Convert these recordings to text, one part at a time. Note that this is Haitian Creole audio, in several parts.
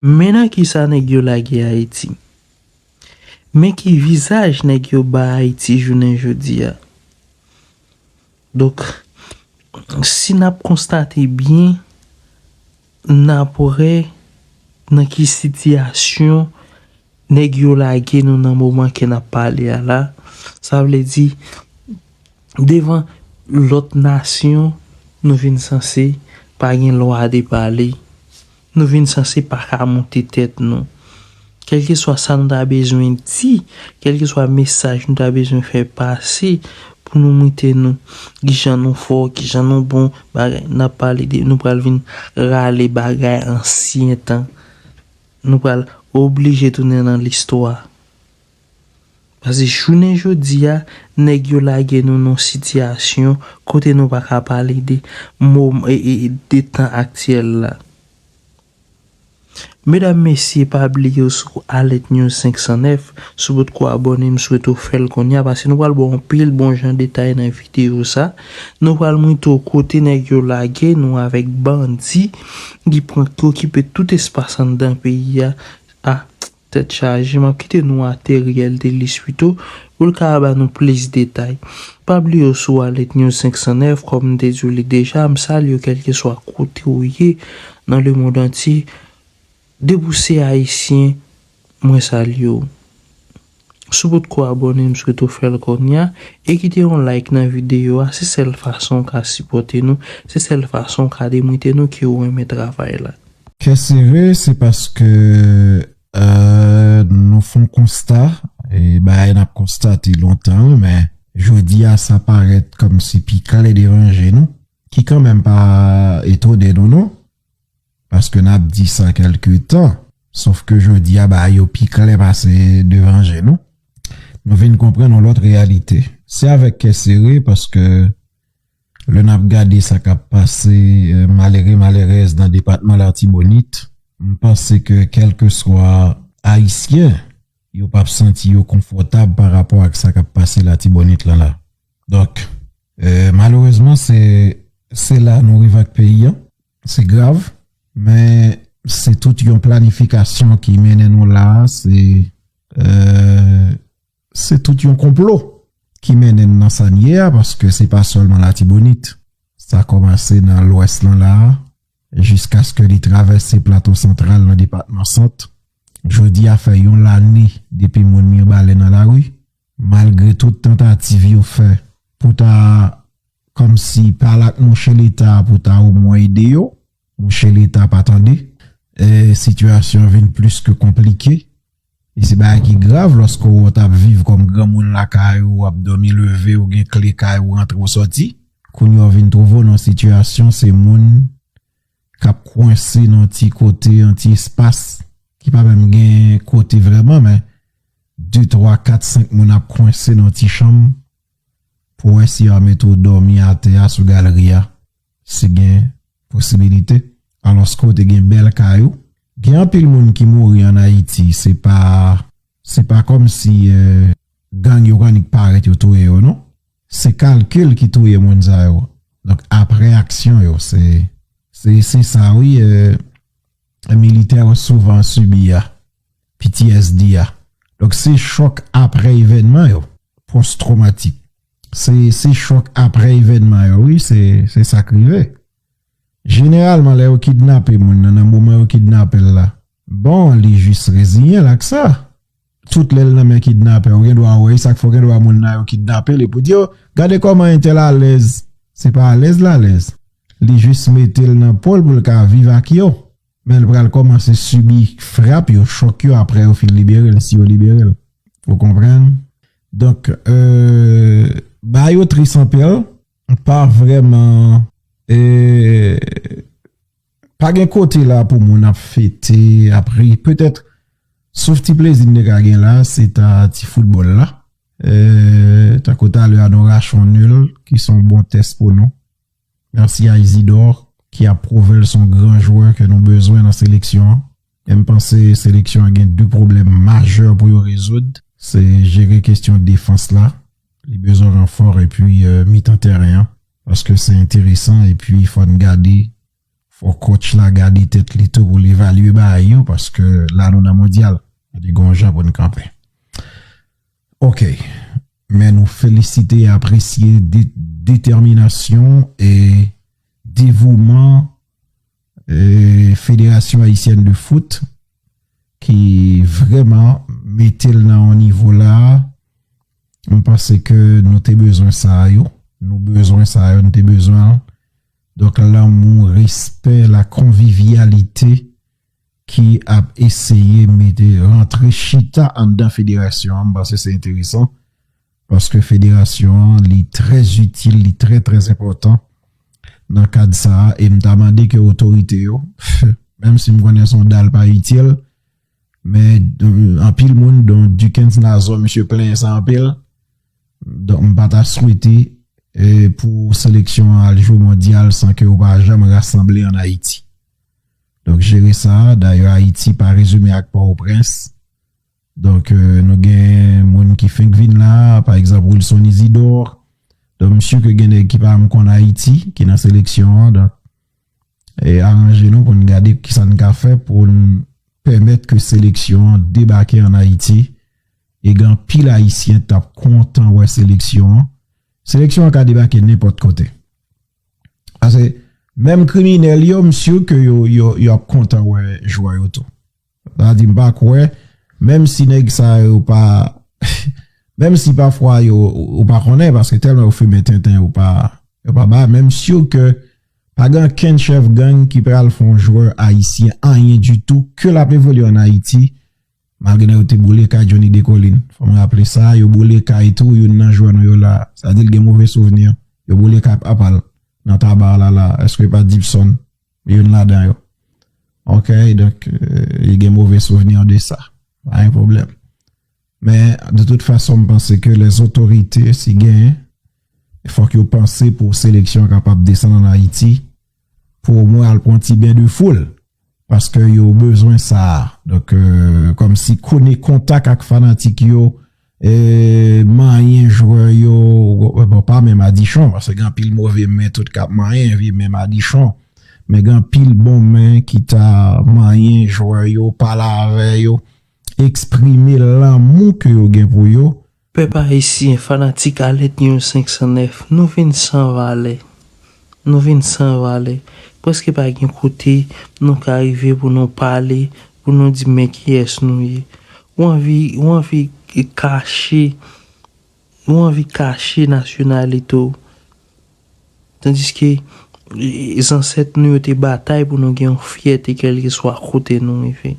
Men nan kisa nèg yo lage Ayiti. Men ki vizaj nèg yo ba Ayiti jounen jodi a. Donk, si n ap konstate byen, n ap wè nan ki sitiyasyon nèg yo lage nou nan moman ke n ap pale a la. Sa vle di, devan lòt nasyon, nou vin sanse pa gen lwa de pale. Nou vin sanse pa ka moute tèt nou. Kèlkeswa sa nou ta bezwen di, kèlkeswa mesaj nou ta bezwen fè pase pou nou moute nou, ki jan nou fò, ki jan nou bon, bagay, n ap pale de nou pral vin rale bagay ansyen tan. Nou pral oblije tounen nan listwa. Paske jounen jodi a, nèg yo lage nou nan yon sitiyasyon kote nou pa ka pale de mom, de tan aktyèl la. Medam, mesye, pa bliye ou sou Aletnews 509, si w potko abòne, m swete w fè l kounye a, paske nou pral ba w anpil bon jan detay nan videyo sa. Nou pral montre w kote nèg yo lage nou avèk bandi ki pran, ki okipe tout espas anndan peyi a. Ah! Tèt chaje, m ap kite nou a Theriel Delissuito pou l ka ba nou plis detay. Pa bliye w sou Alert News 509, kòm m te di w li deja, m salye w kèlkeswa kote w ye nan lemond antye. Depi w se Ayisyen, mwen salye w. Si w potko abòne, m swete w fè l kounya e kite yon like nan videyo a, se sèl fason w ka sipòte nou, se sèl fason w ka demontre nou ke w renmen travay la. Kè sere se paske nou fon konsta, e bagay nap konstate lontan men jodi a sa parèt kòmsi pi klè devan je nou, ki kanmenm pa etone nou non, paske nap di sa kèlke tan, sof ke jodi a bagay yo pi klè pase devan je nou, nou vin konprann yon lòt reyalite. Se avèk kè sere paske Lè n ap gade sa k ap pase malere malerèz nan depatman Latibonit, m panse ke kèlkeswa Ayisyen, yo p ap santi yo konfòtab pa rapò ak sa k ap pase Latibonit lan la. Donk, malerezman se se la nou rive ak peyi an. Se grav, men se tout yon planifikasyon ki mennen nou la a. Se. se tout yon konplo ki mennen n nan sa n ye a paske se pa sèlman Latibonit. Sa kòmanse nan Lwès lan la a jiskaske li travèse Plato Santral nan depatman Sant. Jodi a fè yon lane depi moun Mirbalè nan lari. Malgre tout tantativ yo fè pou ta kòmsi pale ak mouche Leta pou ta omwen ede yo, Monchè leta pa tande, sitiyasyon vin plis ke konplike e se bagay ki grav lòske wè w t ap viv kòm granmoun lakay ou, w ap dòmi leve, w gen kle kay ou rantre w sòti, kounye a w vin twouve w nan yon sitiyasyon se moun k ap kwense nan yon ti kote, yon ti espas ki pa menm gen kote vrèman men de twa kat senk moun ap kwense nan yon ti chanm pou w wè si yo ap mete w dòmi atè a sou galri a. si gen posibilite alòske w te gen bèl kay ou gen anpil moun ki mouri an ayiti se pa se pa kòmsi gang yo annik parèt yo touye yo non se kalkil ki touye moun sa yo donk aprè aksyon yo se se sa wi. militè yo souvan sibi a, ptsd a. Donk se chòk aprè evènman yo, pòs twomatik. Se se chòk aprè evènman yo wi, se se sa k rive. Jeneralman lè yo kidnape moun nan nan moman yo kidnape l la, bon li jis reziyen l ak sa. Tout lèl nan men kidnapè ou gendwa wè esak fè ou gendwa moun nan yo kidnapel epi ou di oh gade kòman entèl alèz se pa alèz l alèz li jis metel nan pol poul ka viv ak yo men l pral kòmanse sibi frap yo chòk yo aprè yo fin liberel si yo liberel ou konprann donk euh bagay yo tris anpil m pa vrèman euh. Pa gen kote la pou moun ap fete, ap ri. Petèt, sof ti plezi n te ka gen la, se ta ti foutbòl la. Tankou talè a nou rache yon nul ki se yon bon tès pou nou. Mèsi a Isidor ki ap pwouve l se yon gran jwè ke nou bezwen nan seleksyon an. Men m panse seleksyon an gen 2 pwoblèm majè pou yo rezoud, se jere kestyon defans la, li bezwen ranfò epi mitan tèren an paske se enteresan epi fò n gade fò kotch la gade tèt li tou pou l evalye bagay yo paske la nou nan mondyal gade gon jan pou n kanpe ok men nou felisite e apresye detèminasyon e devouman. Federasyon Ayisyèn de Foot ki vrèman mete l nan yon nivo la a, m panse ke nou te bezwen sa a yo, nou bezwen sa a yo, nou te bezwen l. Donk lanmou, respè, la konvivyalite ki ap eseye mete, rantre, chita anndan federasyon an, m panse se enteresan. Paske federasyon an li trè itil, li trè trè enpòtan nan kad sa a e m ta mande ke otorite yo, menm si m konnen se yon dal pa itil men anpil moun don Dikens Nazon misye plenyen sa anpil donk m pa ta swete pou seleksyon an al jwe mondyal san ke yo pa janm rasanble an Ayiti. Donk jere sa a, dayè Ayiti pa rezime ak Pòwoprens Donk nou gen moun ki fenk vin la, pa egzanp Wilson Isidore, donk m si ke gen nèg ki pa janm konn Ayiti ki nan seleksyon an, donk aranje nou pou n gade kisa n ka fè pou n pèmèt ke seleksyon an debake an Ayiti e gen anpil Ayisyen t ap kontan wè seleksyon an, seleksyon an ka debake nenpòt kote. Pase menm kriminèl yo m si ke yo ap kontan wè jwè yo tou. Sa di m pa kwè menm si nèg sa yo pa menm si pafwa yo ou pa konnen paske tèlman yo fimen tenten yo pa yo pa ba menm si yo ke pa gen ankenn chèf gang ki pral fè yon jwè ayisyen anyen ditou ke l ap evolye an Ayiti malgre nan yo te boule kay Johnny Decolin fò m raple sa yo boule kay tou youn nan jwè nou yo la sa di l gen move souvni yo boule kay papa l nan Tabarre la la èske pa Dipson. youn ladan yo ok donk li gen move souvni de sa pa gen pwoblèm men de tout fason m panse ke lè zotorite si gen fòk yo panse pou seleksyon kapab desann an Ayiti pou o mwen al pran ti ben de foul paske yo bezwen sa donk kòm si kone kontak ak fanatik yo Manyen jwè yo bon pa men madichon paske gen anpil move men tout kap manyen vye men madichon men gen anpil bon men ki ta manyen jwè yo pale avè yo eksprime lanmou ke yo gen pou yo. Pèp ayisyen fanatik alèt yon 509 nou vin san valè Nou vin san valè. Prèske pa gen kote nou ka rive pou nou pale, pou nou di men kiyès nou ye. Ou anvi, ou anvi kache, ou anvi kache nasyonalite w. Tandiske zansèt nou yo te batay pou nou gen yon fyète kèlkeswa kote nou rive.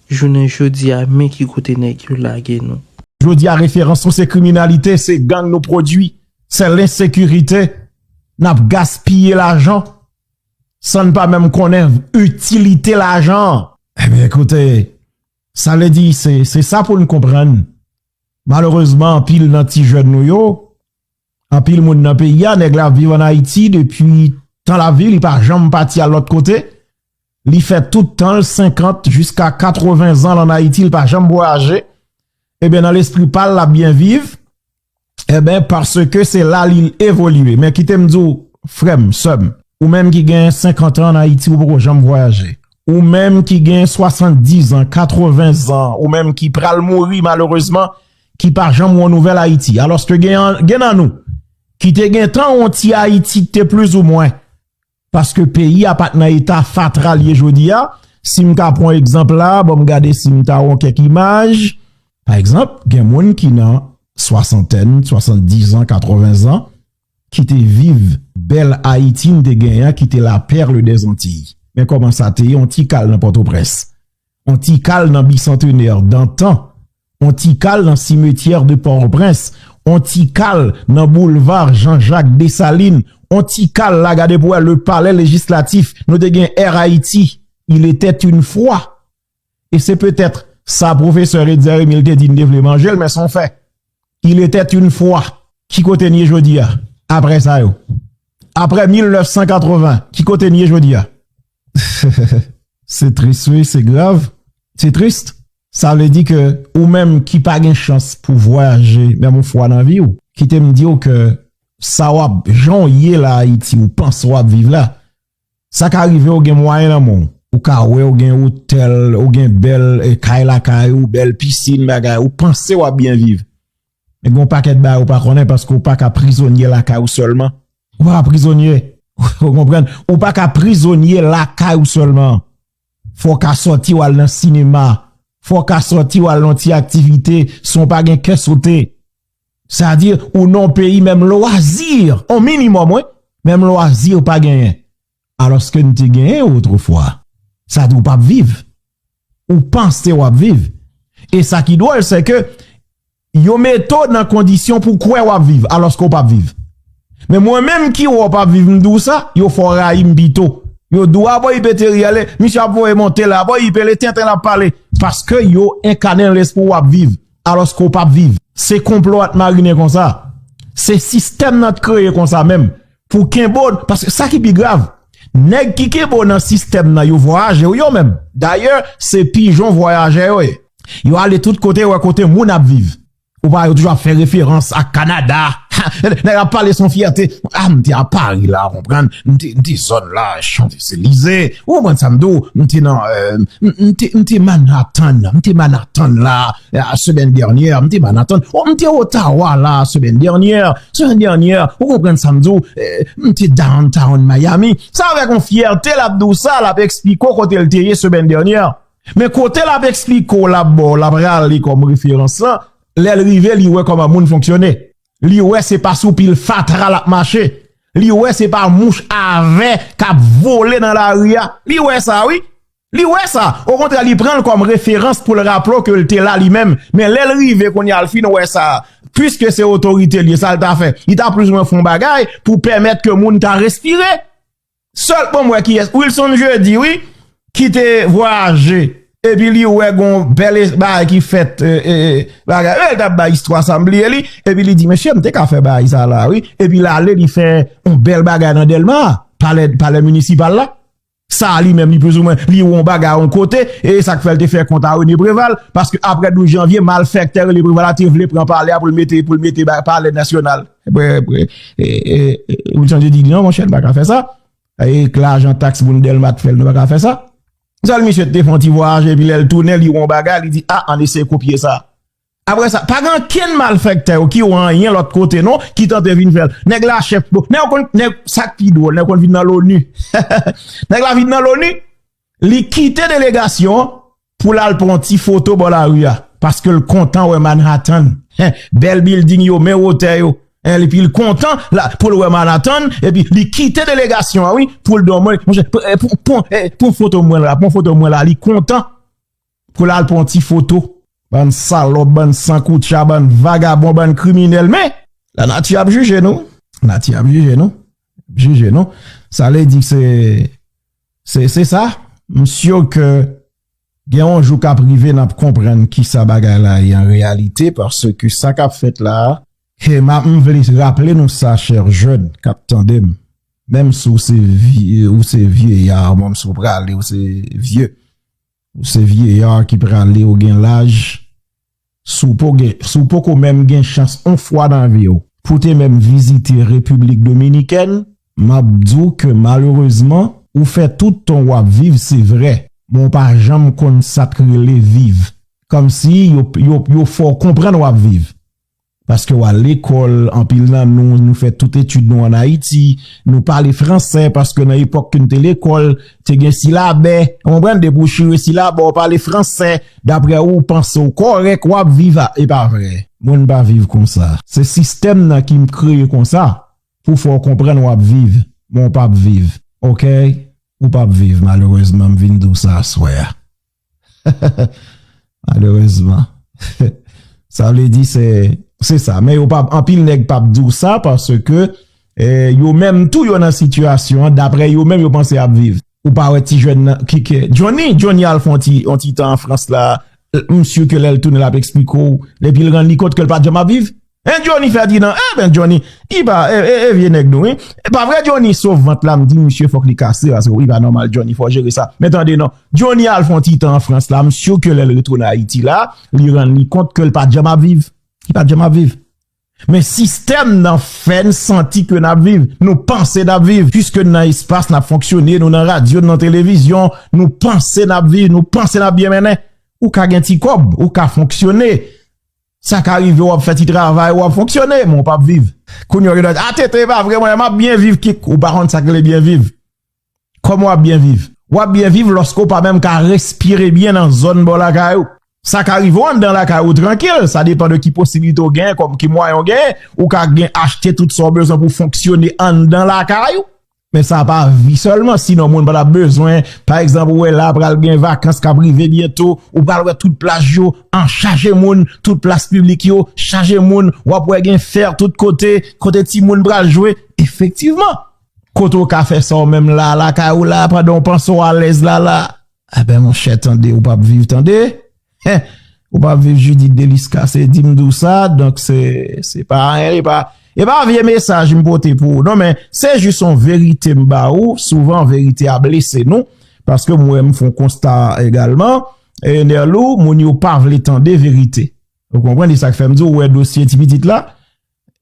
Jounen jodi a, men ki kote nèg yo lage nou. Jodi a referans nou se kriminalite, se gang nou pwodui. Se lensekirite n ap gaspiye lajan san n pa menm konnen itilite lajan an. Ebyen ekoute, sa vle di se sa pou n konprann malerezman anpil nan ti jèn nou yo, anpil moun nan peyi a, nèg la ap viv an Ayiti depi tan lavi li pa janm pati al lòt kote, li fè tout tan l 50 jiska 80 zan l an Ayiti l pa janm vwayaje, ebyen nan lespri pa l l ap byen viv. Enben, paske se la li evolye. Men kite m di w, frè m, sè m, ou menm ki gen senkantan ann Ayiti ou poko janm vwayaje, ou menm ki gen swasanndizan, katreven zan, ou menm ki pral mouri malerezman, ki pa janm wè nouvèl Ayiti. Alòske gen nan nou ki te gentan wè yon ti Ayiti ki te plizoumwen Paske peyi a pat nan eta fatra l ye jodi a, si m ka pran egzanp la, ban m gade si m ta won kèk imaj, pa egzanp gen moun ki nan swasantèn, swasanndizan, katwovenzan ki te viv bèl Ayiti n te genyen an ki te la perle des Antilles. Men kòman sa te ye, on ti kal nan Pòtoprens, on ti kal nan Bicentenaire dantan. On ti kal nan simetyè de Pòtoprens, on ti kal nan boulva Jan Jak Desalin, on ti kal la gade pou wè le palè lejislatif, nou te gen Air Haiti, il etait une fwa. E se petèt sa pwofesè Etzer Emile te di n te vle manje l men son fè. Il etait une fwa. Ki kote n ye jodi a? Aprè sa yo. Aprè 1980, ki kote n ye jodi a? Se tris wi, se grav, se trist. Sa vle di ke ou menm ki pa gen chans pou vwayaje menm yon fwa nan vi w, kite m di w ke sa w ap, jan w ye la Ayiti, ou panse w ap viv la, sa ka rive w gen mwayen nan men w. Ou ka wè w gen otèl, ou gen bèl kay lakay ou, bèl pisin, bagay, ou panse w ap byen viv. Men gen yon pakèt bagay ou pa konnen paske ou pa ka prizonye lakay ou sèlman. Ou pa ka prizonye. Ou konprann? Ou pa ka prizonye lakay ou sèlman. Fò w ka sòti w al nan sinema. Fò w ka sòti w al nan yon ti aktivite san w pa gen kè sote. Sa di ou nan yon peyi menm lwazi, yon minimòm wi, menm lwazi ou pa genyen. alòske n te genyen yo otrefwa, sa di w pap viv, ou panse w ap viv, e sa ki dwòl se ke yo mete w nan kondisyon pou w kwè w ap viv alòske w pap viv. Men mwen menm ki wè w pap viv m di w sa, yo fè w rayi m pito, yo di w a bon ipe te ri ale, misye ap voye monte la, bon ipe le tenten l ap pale, paske yo enkane l espri w ap viv. alòske ou pap viv. Se konplo a t marinen konsa. Se sistèm nan t kreye konsa menm pou kenbe w paske sa ki pi grav nèg ki kenbe w nan sistèm nan yo vwayaje wi yo menm. Dayè se pijon vwayajè yo ye. Yo ale tout kote wè kote moun ap viv. Ou pa wè yo toujou ap fè referans ak Kanada. Nèg la ap pale san fyète. A m te a Pari la, ou konprann. M te, m te zòn la, Chanzelize. Ou konprann sa m di w. M te nan, m te, m te Manhattan. M te Manhattan la, semèn dènyè. M te Manhattan. Ou m te Ottawa la, semèn dènyè. Semèn dènyè. Ou konprann sa m di w. M te Downtown Miami. Sa avèk yon fyète l ap di w sa, l ap esplike w kote l te ye semèn dènyè. Men kote l ap esplike w la, bò l ap rale kòm referans lan. Lè l rive, li wè kòman moun fonksyone. Li wè se pa sou pil fatra l ap mache. Li wè se pa mouch a vè k ap vole nan lari a. Li wè sa wi. Li wè sa. Okontrè li pran l kòm referans pou l raple w ke l te la li menm. Men lè l rive kounye a l fin wè sa. Piske se otorite l ye, sa l ta fè? Li ta plizoumwen fè yon bagay pou pèmèt ke moun ta respire. Sèl poum wè kiyès Wilson Jeudi wi ki te vwayaje epi li wè gon bèl bagay ki fèt bagay yo el tap bay istwa sa m bliye li epi li di mesye m te ka fè bagay sa la wi epi l ale li fè yon bèl bagay nan Dèlma palè minisipal la sa li menm li plouzoumen li wè yon bagay yon kote e sak fè l te fè kont a René Préval paske aprè 12 janvye malfèktè René Préval la te vle pran palè a pou l mete palè nasyonal. Ou chanje di non monchè nou pa ka fè sa E k lajan taks moun Dèlma t fèl nou pa ka fè sa Sèl misye te fon ti vwayaje epi lèl tounen li wè yon bagay li di a an eseye kopye sa Apre sa pa gen ankenn malfèktè yo ki wè anyen lòt kote non ki tante vin fèl Nèg la chèf nèg ou konn nèg sa k pi dwòl nèg ou konn vin nan loni Nèg la vin nan loni Li kite delegasyon an pou l al pran yon ti foto bò lari a, paske l kontan wè Manhattan, bèl bilding yo, men wotè yo, epi l kontan pou l wè Manhattan, epi li kite delegasyon an wi, pou l di w monchè, pran foto mwen la, pran foto mwen la, li kontan. Pou lal pran yon ti foto. Bann salòp, bann san koutcha, bann vagabon, bann kriminèl men la nati ap jije nou. La nati ap jije nou. Ap jije nou. Sa vle di se se se sa. M syo ke gen yon jou kap rive nap konprann ki sa bagay la ye an reyalite paske ki sa kap fèt la a. He ma m vle raple nou sa chè jèn kap tande m. Menm si w se vye, ou se vye ya, menm si w prale ou se vye. Ou se vieya ki prale ou gen laj si w poko menm gen chans on fwa nan vi w pou te menm vizite repiblik dominikèn m ap di w ke malerezman ou fè tout tan w ap viv se vre men w pa janm konn sa k rele viv kòmsi yo fè w konprann w ap viv Paske w al lekòl, anpil nan nou, nou fè tout etid nou an Ayiti, nou pale fransè paske nan epòk ke n te lekòl, te gen silabè, ou konprann, depi ou chire silabè, ou pale fransè, daprè ou, ou panse ou kòrèk, w ap viv a, e pa vre. Mwen m pa viv konsa. Se sistèm nan ki m kreye konsa pou fè w konprann w ap viv, men w p ap viv, ok, ou p ap viv malerezman, m vin di w sa aswè a. Malerezman. Sa vle di se, se sa. Men yo pa, anpil nèg pa p di w sa paske yo menm tou yo nan sitiyasyon an, dapre yo menm yo panse y ap viv. Ou pa wè ti jèn nan ki ke, Johnny, Johnny al fè yon ti, yon ti tan an Frans la, m si ke lè l tounen l ap esplike w depi l rann li kont ke l pa janm ap viv. Hein Johnny Ferdinand eh ben Johnny li pa eh vye nèg nou wi e pa vre Johnny sof vant la m di misye fòk li kase paske li pa nòmal Johnny fò jere sa men tande non Johnny al fon ti tan an Frans la m sur ke lè l retounen Ayiti la li rann li kont ke l pa janm ap viv li pa janm ap viv men sistèm nan fè n santi ke n ap viv nou panse n ap viv piske n nan espas n ap fonksyone nou nan radyo nou nan televizyon nou panse n ap viv nou panse n ap byen mennen ou ka gen ti kòb ou ka fonksyone. Sa ka rive wap fè ti travay wap fonksyone men ou pap viv. Kounye a ou gen dwa di, a tenten e pa vre mwen map byen viv kikk ou pa konn sak rele byen viv. Kòman wap byen viv? Wap byen viv lòske ou pa menm ka respire byen nan zòn bò lakay ou. Sa ka rive ou anndan lakay ou trankil, sa depan de ki posibilite ou genyen kòm ki mwayen ou genyen, ou ka gen achte tout sa ou bezwen pou fonksyone anndan lakay ou. Men sa pa vi sèlman, sinon moun pa tap bezwen, pa egzanp ou wè la pral gen vakans kap rive byento, ou pral wè tout plaj yo an chaje moun, tout plas piblik yo chaje moun, wap wè gen fè tout kote, kote ti moun pral jwe, efektivman, kote ou ka fè sa ou menm la, lakay ou la, pandan ou panse ou alèz la la, a ben monchè tande ou pap viv tande. Heh ou pa viv Judith Delisca se dim di w sa donk se se pa anyen li pa e pa vye mesaj m pote pou ou non men se jis yon verite m ba ou souvan verite a blese nou paske m wè m fon konsta egalman e Nerlou moun yo pa vle tande verite ou konprann e sak fè m di w wè dosye ti pitit la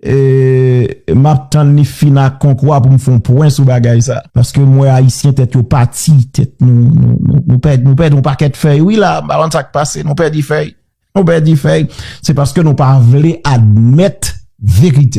Eeee map tann li fin ak konkwa poum fon pwen sou bagay sa paske m wè ayisyen tèt yo pati tèt nou nou pèdi nou pèdi yon pakèt fèy wi la m pa konn sak pase nou pèdi fèy nou pèdi fèy se paske nou pa vle admèt verite.